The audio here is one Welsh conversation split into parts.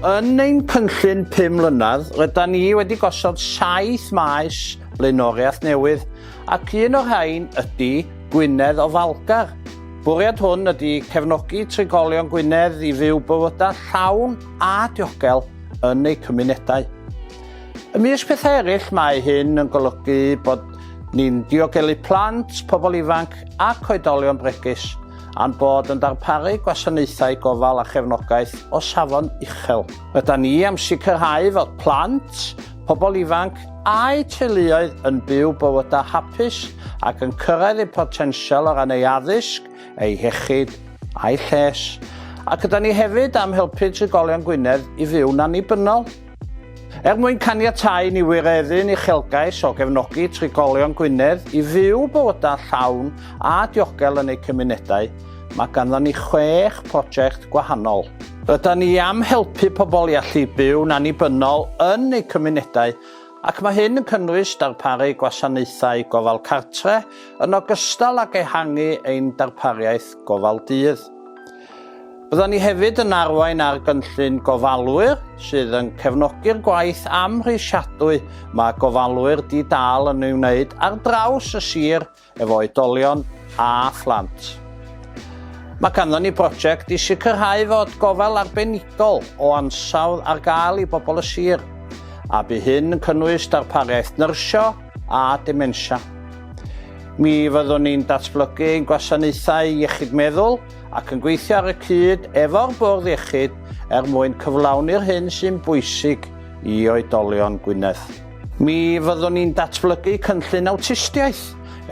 Yn ein cynllun pum mlynedd, rydan ni wedi gosod saith maes blaenoriaeth newydd, ac un o'r rhain ydy Gwynedd Ofalgar. Bwriad hwn ydy cefnogi trigolion Gwynedd i fyw bywydau llawn a diogel yn eu cymunedau. Ymysg pethau eraill mae hyn yn golygu bod ni'n diogelu plant, pobl ifanc ac oedolion bregus a'n bod yn darparu gwasanaethau gofal a chefnogaeth o safon uchel. Rydan ni am sicrhau fod plant, pobl ifanc a'u teuluoedd yn byw bywydau hapus ac yn cyrraedd eu potensial o ran eu addysg, eu hiechyd a'u lles. Ac rydan ni hefyd am helpu trigolion Gwynedd i fyw'n annibynnol. Er mwyn caniatáu i ni wireddu'n uchelgais o gefnogi trigolion Gwynedd i fyw bywydau llawn a diogel yn eu cymunedau, mae ganddon ni chwech prosiect gwahanol. Rydan ni am helpu pobl i allu byw'n annibynnol yn eu cymunedau ac mae hyn yn cynnwys darparu gwasanaethau gofal cartre yn ogystal ag ehangu ein darpariaeth gofal dydd. Byddwn ni hefyd yn arwain ar gynllun gofalwyr sydd yn cefnogi'r gwaith amhrisiadwy mae gofalwyr di-dâl yn ei wneud ar draws y sir efo oedolion a phlant. Mae ganddo ni brosiect i sicrhau fod gofal arbenigol o ansawdd ar gael i bobl y sir, a bu hyn yn cynnwys darpariaeth nyrsio a dementia. Mi fyddwn ni'n datblygu ein gwasanaethau iechyd meddwl, ac yn gweithio ar y cyd efo'r Bwrdd Iechyd er mwyn cyflawni'r hyn sy'n bwysig i oedolion Gwynedd. Mi fyddwn ni'n datblygu cynllun awtistiaeth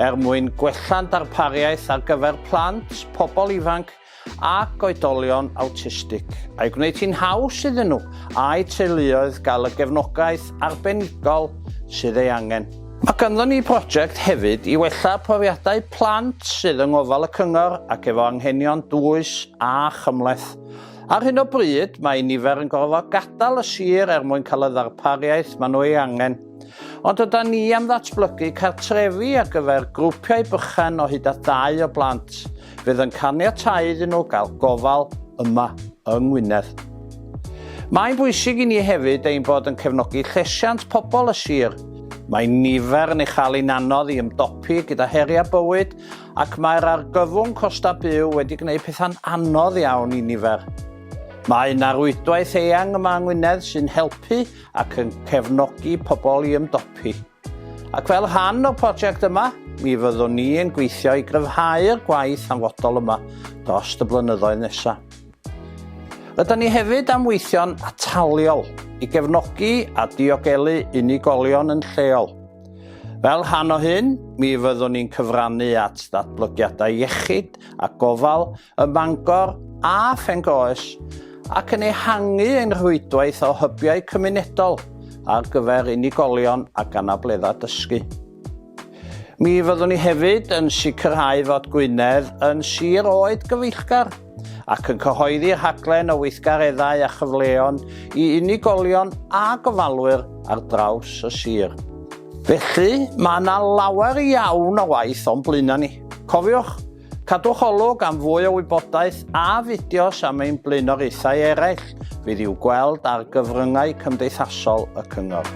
er mwyn gwella'n darpariaeth ar gyfer plant, pobl ifanc ac oedolion awtistig, a'i gwneud hi'n haws iddyn nhw a'u teuluoedd gael y gefnogaeth arbenigol sydd ei angen. Mae ganddo ni broject hefyd i wella profiadau plant sydd yng ngofal y cyngor ac efo anghenion dwys a chymhleth. Ar hyn o bryd, mae nifer yn gorfod gadael y sir er mwyn cael y ddarpariaeth maen nhw ei angen. Ond yda ni am ddatblygu cartrefi ar gyfer grwpiau bychan o hyd at ddau o blant. fydd yn caniatáu iddyn nhw gael gofal yma yng Ngwynedd. Mae'n bwysig i ni hefyd ein bod yn cefnogi llesiant pobl y sir. Mae nifer yn ei chael yn anodd i ymdopi gyda heriau bywyd ac mae'r argyfwng costau byw wedi gwneud pethau'n anodd iawn i nifer. Mae yna rwydwaith eang yma yng Ngwynedd sy'n helpu ac yn cefnogi pobl i ymdopi. Ac fel rhan o'r prosiect yma, mi fyddwn ni yn gweithio i gryfhau'r gwaith hanfodol yma dros y blynyddoedd nesaf. Rydan ni hefyd am weithio'n ataliol i gefnogi a diogelu unigolion yn lleol. Fel rhan o hyn, mi fyddwn ni'n cyfrannu at ddatblygiadau iechyd a gofal ym Mangor a Phengoes ac yn ehangu ein rhwydwaith o hybiau cymunedol ar gyfer unigolion ac anableddau dysgu. Mi fyddwn ni hefyd yn sicrhau fod Gwynedd yn sir oed gyfeillgar ac yn cyhoeddi rhaglen o weithgareddau a chyfleon i unigolion a gofalwyr ar draws y sir. Felly, mae yna lawer iawn o waith o'n blaenau ni. Cofiwch, Cadwch olwg am fwy o wybodaeth a fideos am ein blaenoriaethau eraill fydd i'w gweld ar gyfryngau cymdeithasol y Cyngor.